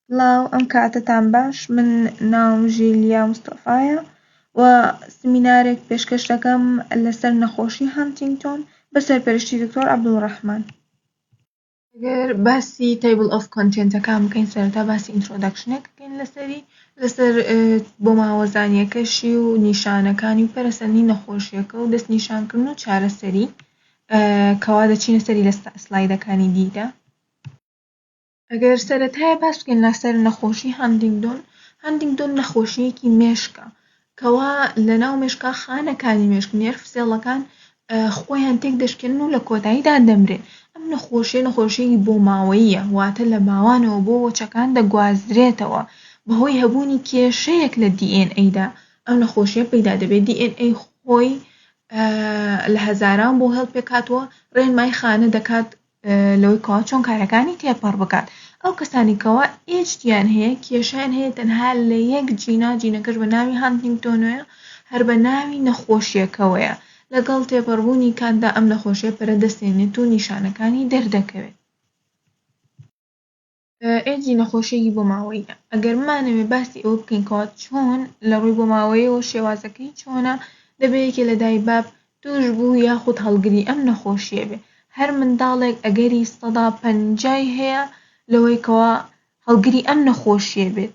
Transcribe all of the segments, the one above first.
سڵاو ئەم کاتەتان باش من ناوم ژیلیا مستەفایە و سمینارێک پێشکەش دەکەم لەسەر نەخۆشی هانتینگتۆن بە سەرپەرشتی دکتۆر عەبدولڕەحمان ئەگەر باسی تەیبڵ ئۆف کۆنتێنتەکان بکەین سەرەتا باسی ئینترۆدەکشنێک بکەین لەسەری لەسەر بۆ ماوەزانیەکەشی و نیشانەکانی و پەرەسەندنی نەخۆشیەکە و دەست نیشانکردن و چارەسەری کەوا دەچینە سەری لە سلایدەکانی دیدا ئەگەر سەرەتایە باس بکەین لەسەر نەخۆشی هانتینگتۆن هانتینگتۆن نەخۆشییەکی مێشکە کەوا لەناو مێشکا خانەکانی مێشک نێرڤ سێڵەکان خۆیان تێک دەشکێنن و لە کۆتاییدا دەمرێن ئەم نەخۆشیە نەخۆشیی بۆ ماوەییە واتە لە باوانەوە بۆ وەچەکان دەگوازرێتەوە بەهۆی هەبوونی کێشەیەک لە DNA-دا ئەم نەخۆشیە پەیدا دەبێت DNA خۆی لە هەزاران بۆ هەڵپێکاتوە ڕێنمای خانە دەکات لەوەی کەوا چۆن کارەکانی تێپەڕ بکات ئەو کەسانی کەوا ئێجدیان هەیە کێشیان هەیە تەنها لە یەک جینا جینەکەش بە ناوی هانتنگتۆنۆیە هەر بە ناوی نەخۆشیەکەوەیە لەگەڵ تێپەڕبوونی کاتدا ئەم نەخۆشیە پەرە دەستێنێت و نیشانەکانی دەردەکەوێت ئێجی نەخۆشیەکی بۆماوەییە ئەگەر بمانەوێ باسی ئەوە بکەین کەوا چۆن لە ڕووی بۆماوەیەوە شێوازەکەی چۆنە دەبێ یەکێ لە دای باب توش بوو یاخود هەڵگری ئەم نەخۆشیە بێ هەر منداڵێک ئەگەری سەدا پەنجای هەیە لەوەی کەوا هەڵگری ئەم نەخۆشیە بێت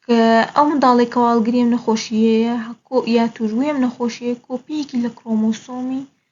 کە ئەو منداڵێک کەوا هەڵگری ئەم نەخۆشیەیە یا توشبووی ئەم نەخۆشیە کۆپیەکی لە کرۆمۆسۆمی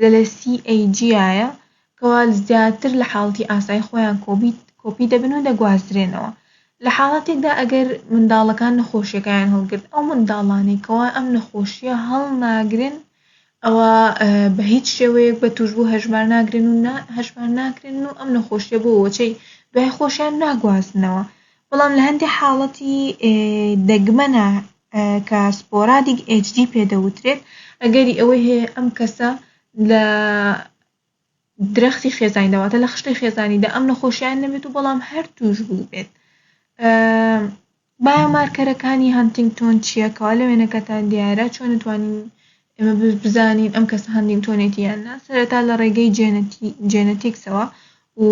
لە لە سی ئەی جیایە کەوا زیاتر لە حاڵەتی ئاسایی خۆیان کۆبیت کۆپی دەبن و دەگوازرێنەوە لە حاڵەتێکدا ئەگەر منداڵەکان نەخۆشیەکەیان هەڵگرت ئەو منداڵانەی کەوا ئەم نەخۆشیە هەڵناگرن ئەوا بە هیچ شێوەیەک بە توشبوو هەژمار ناگرن و نە هەژمار ناکرێن و ئەم نەخۆشیە بۆ وەچەی دوای خۆشیان ناگوازنەوە بەڵام لە هەندێ حاڵەتی دەگمەنە کە سپۆرادیک HD پێ دەوترێت، ئەگەری ئەوەی هەیە ئەم کەسە لە درەختی خێزانیدا واتە لە خشتەی خێزانیدا ئەم نەخۆشییە نەبێت و بەڵام هەر تووشبووبێت. بایۆمارکەرەکانی هانتینگتۆن چییە؟ کەوا لە وێنەکەتان دیارە، چۆن ئەتوانین ئێمە بزانین ئەم کەسە هەنتینگتۆنێتی یان نا سەرەتا لە ڕێگەی جێنەتیکسەوە و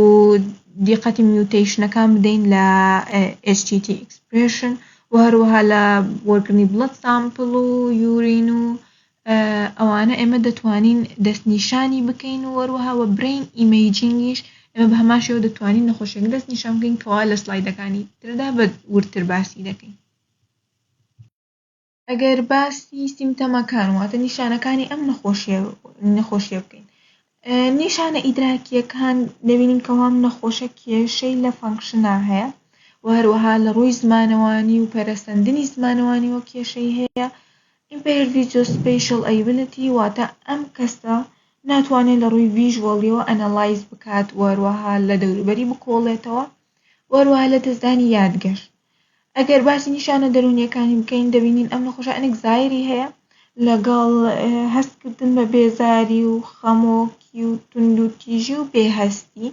دیقەتی میوتەیشنەکان بدەین لە HTT expression و هەروەها لە وەرگرنی بڵەت سامپڵ و یورین و ئەوانە ئێمە دەتوانین دەستنیشانی بکەین و هەروەها وە برین ئیمەیجینگیش ئێمە بە هەمان شێوە دەتوانین نەخۆشیەکە دەستنیشان بکەین کەوا لە سلایدەکانی تردا بە وردتر باسی دەکەین ئەگەر باسی سیمتەمەکان واتە نیشانەکانی ئەم نەخۆشیە نەخۆشیە بکەین نیشانە ئیدراکیەکان دەبینین کەوام نەخۆشە کێشەی لە فەنکشنا هەیە و هەروەها لە ڕووی زمانەوانی و پەرەسەندنی زمانەوانی و کێشەی هەیە impaired visuospatial ability واتە ئەم کەسە ناتوانێت لە ڕووی ڤیژوەڵیەوە ئەنەلایز بکات وەروەها لە دەوروبەری بکۆڵێتەوە وەروە لە دەستدانی یادگەشت ئەگەر باسی نیشانە دەروونییەکانی بکەین، دەبینین ئەم نەخۆشە ئەنک زایری هەیە لەگەڵ هەست کردن بە بێزاری و خەمۆکی و توندوتیژی و بێ هەستی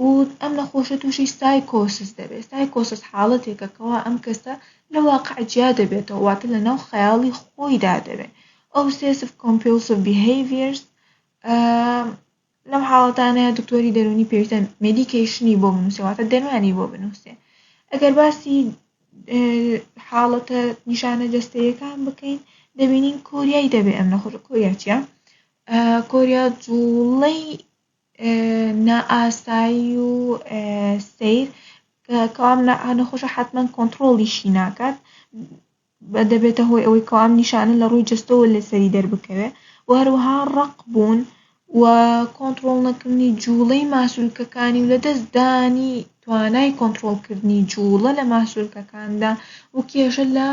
و ئەم نەخۆشە تووشی سایکۆسس دەبێت سایکۆسس حاڵەتێکە کەوا ئەم کەسە لە واقع جیا دەبێتەوە واتە لە ناو خەیاڵی خۆیدا دەبێت ئەوسێسڤ کۆمپیڵسڤ بیهەیڤیەرس لەو حاڵەتانەیا دکتۆری دەروونی پێویستە مێدیکەیشنی بۆ بنووسێ واتە دەروانی بۆ بنووسێ ئەگەر باسی حاڵەتە نیشانە جەستەیەکان بکەین دەبینین کۆریایی دەبێ ئەم نەخۆشە کۆریا چیە کۆریا جوڵەی نائاسایی و سیر کە کام نەخۆشە حتمما کۆنتڕۆڵیشی ناکات دەبێتە هۆی ئەوەی کەوا ئەم نیشانە لە ڕووی جەستەوە لەسەری دەربکەوێت و هەروەها ڕەق بوون و کۆنتڕۆڵ نەکردنی جووڵەی ماسولکەکانی و لە دەست دانی توانای کۆنتڕۆڵ کردنی جووڵە لە ماسولکەکاندا و کێشە لە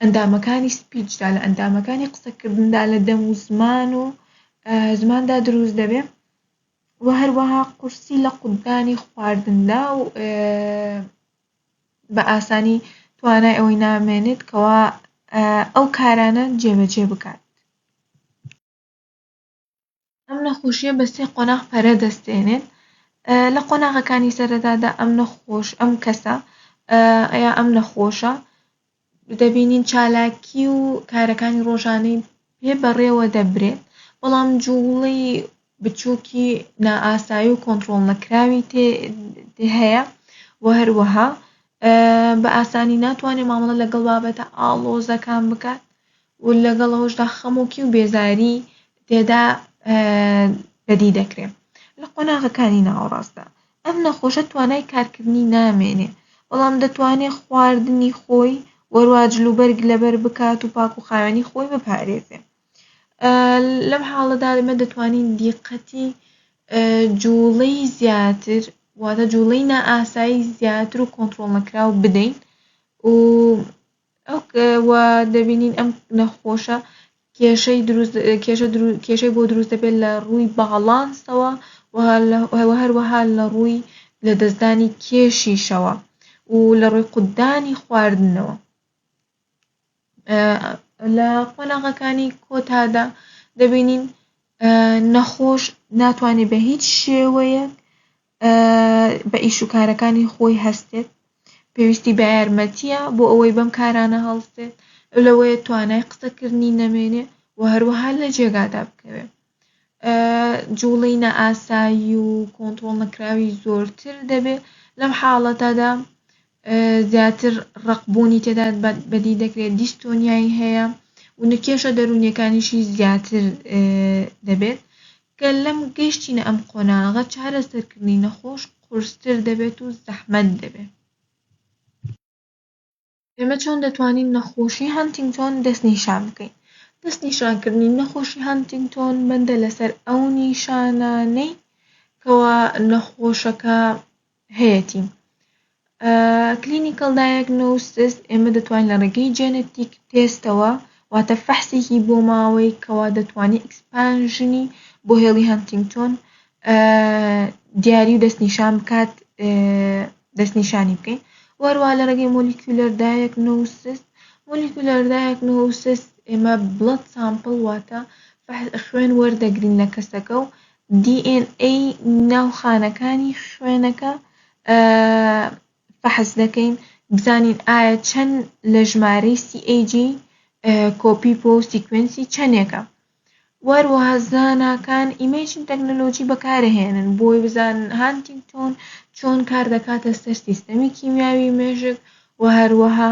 ئەندامەکانی سپیچدا لە ئەندامەکانی قسە کردندا لە دەم و زمان و زماندا دروست دەبێت و هەروەها قورسی لە قوتدانی خواردندا و بە ئاسانی توانای ئەوەی نامێنێت کەوا ئەو کارانە جێبەجێ بکات ئەم نەخۆشیە بە سێ قۆناغ پەرە دەستێنێت لە قۆناغەکانی سەرەتادا ئەم نەخۆش ئەم کەسە یا ئەم نەخۆشە دەبینین چالاکی و کارەکانی ڕۆژانەی پێ بەڕێوە دەبرێت، بەڵام جووڵەی بچووکی نائاسایی و کۆنتڕۆڵ نەکراوی تێ هەیە و هەروەها بە ئاسانی ناتوانێت مامەڵە لەگەڵ بابەتە ئاڵۆزەکان بکات و لەگەڵ ئەوەشدا خەمۆکی و بێزاری تێدا بەدی دەکرێت لە قۆناغەکانی ناوەڕاستدا. ئەم نەخۆشە توانای کارکردنی نامێنێ، بەڵام دەتوانێ خواردنی خۆی وەروا جل و بەرگ لەبەر بکات و پاک و خاوێنی خۆی بپارێزێ. لەم حاڵەدا ئێمە دەتوانین دیقەتی جوڵەی زیاتر واتە جوڵەی نائاسایی زیاتر و کۆنترۆڵ نەکراو بدەین و و دەبینین ئەم نەخۆشە کێشەی دروست کێشە درو- کێشەی بۆ دروست دەبێت لە ڕووی باڵانسەوە و لە- و هەروەها لە ڕووی لەدەستدانی کێشیشەوە و لە ڕووی قوتدانی خواردنەوە لە قۆناغەکانی کۆتادا دەبینین نەخۆش ناتوانێت بە هیچ شێوەیەک بە ئیش و کارەکانی خۆی هەستێت پێویستی بە یارمەتیە بۆ ئەوەی بەم کارانە هەڵسێت ئەو لەوەیە توانای قسەکردنی نەمێنێ و هەروەها لە جێگادا بکەوێ جوڵەی نائاسایی و کۆنترۆڵ نەکراوی زۆرتر دەبێ لەم حاڵەتەدا زیاتر ڕقبوونی تێدا بەدی دەکرێت دیستۆنیایی هەیە و نکێشە دەروونیەکانیشی زیاتر دەبێت گەر لەم گەیشتینە ئەم قۆناغە چارەسەرکردنی نەخۆش قورستر دەبێت و زەحمەت دەبێت. ئێمە چۆن دەتوانین نەخۆشی هەنتینگتۆن دەستنیشان بکەین؟ دەستنیشانکردنی نەخۆشی هەنتینگتۆن بەندە لەسەر ئەو نیشانانەی کەوا نەخۆشەکە هەیەتی. Clinical Diagnosis، ئێمە دەتوانین لە ڕێگەی جێنەتیک تێستەوە واتە فەحسێکی بۆ ماوەی کەوا دەتوانین ئیکسپانژنی بۆ هێڵی هەنتینگتۆن دیاری و دەستنیشان بکات دەستنیشانی بکەین وەروە لە ڕێگەی مۆلیکولەر دایەکنۆسس مۆلیکولەر دایەکنۆسس ئێمە بڵەت سامپڵ واتە خوێن وەردەگرین لە کەسەکە و DNA ناو خانەکانی خوێنەکە فەحس دەکەین بزانین ئایا چەن لە ژمارەی CAG کۆپی پۆ سیکوێنسی چەنێکە واروەها زاناکان ئیمەیجن تەکنەلۆجی بەکارەهێنن بۆی بزان هانتینگتۆن چۆن کار دەکاتە سەر سیستەمی کیمیاوی مێشک وە هەروەها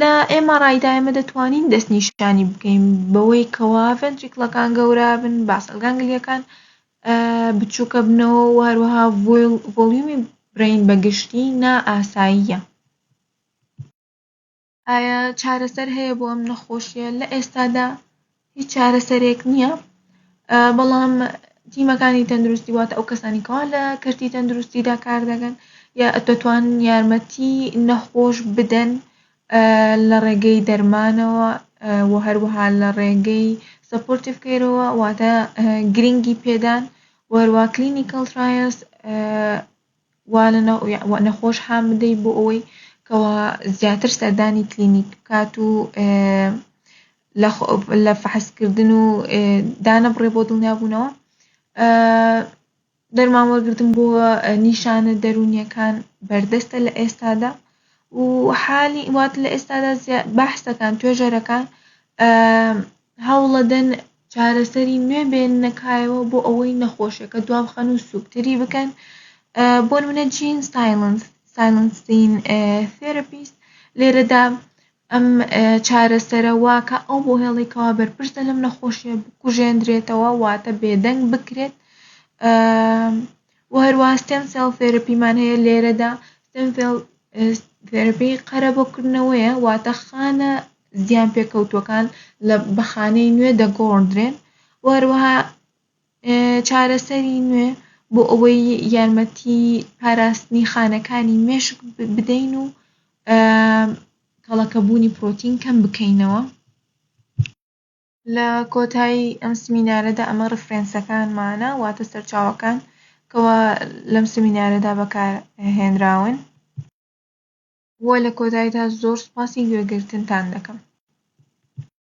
لە MRI دا ئێمە دەتوانین دەستنیشانی بکەین بەوەی کەوا ڤێنتریکڵەکان گەورە بن، باسەل گانگلیەکان بچووکە بنەوە و هەروەها ڤۆلیومی برین بە گشتی نا ئاساییە. ئایا چارەسەر هەیە بۆ ئەم نەخۆشیە لە ئێستادا؟ هیچ چارەسەرێک نییە، بەڵام تیمەکانی تەندروستی واتە ئەو کەسانی کەوا لە کەرتی تەندروستیدا کار دەکەن یا دەتوان یارمەتی نەخۆش بدەن لە ڕێگەی دەرمانەوە و هەروەها لە ڕێگەی سەپۆرتیڤ کەیرەوە واتە گرنگی پێدان و هەروەها کلینیکەڵ ترایەڵس وا لە نەخۆش هان بدەیت بۆ ئەوەی کەوا زیاتر سەردانی کلینیک بکات و لە فەحسکردن و دانەبڕێ بۆ دڵنیابوونەوە دەرمان وەرگتن بۆ نیشانە دەرونیەکان بەردەستە لە ئێستادا و حالی وات لە ئێستادا بەحسەکان توێژەرەکان هەوڵەدەن چارەسەری نوێ بێننە کایەوە بۆ ئەوەی نەخۆشیەکە دوابخەن و سوکتری بکەن بۆ نمونە جین سایلنس سایلنسین ثێرەپیست لێرەدا ئەم چارەسەرە واکە ئەو بۆ هێڵی کەوا بەرپرسە لەم نەخۆشیە بکوژێندرێتەوە واتە بێدەنگ بکرێت و هەروەها ستێم سێڵ ثێرەپیمان هەیە لێرەدا ستێم ثێڵ ثێرەپی قەرە بۆ کردنەوەیە واتە خانە زیان پێکەوتووەکان لە بە خانەی نوێ دەگۆڕدرێن و هەروەها چارەسەری نوێ بۆ ئەوەی یارمەتی پاراستنی خانەکانی مێشک بدەین و کەڵەکەبوونی پرۆتین کەم بکەینەوە. لە کۆتایی ئەم سمینارەدا ئەمە ڕفرێنسەکانمانە واتە سەرچاوەکان کەوا لەم سمینارەدا بەکار هێنراون. وە لە کۆتایدا زۆر سوپاسی گوێگرتنتان دەکەم.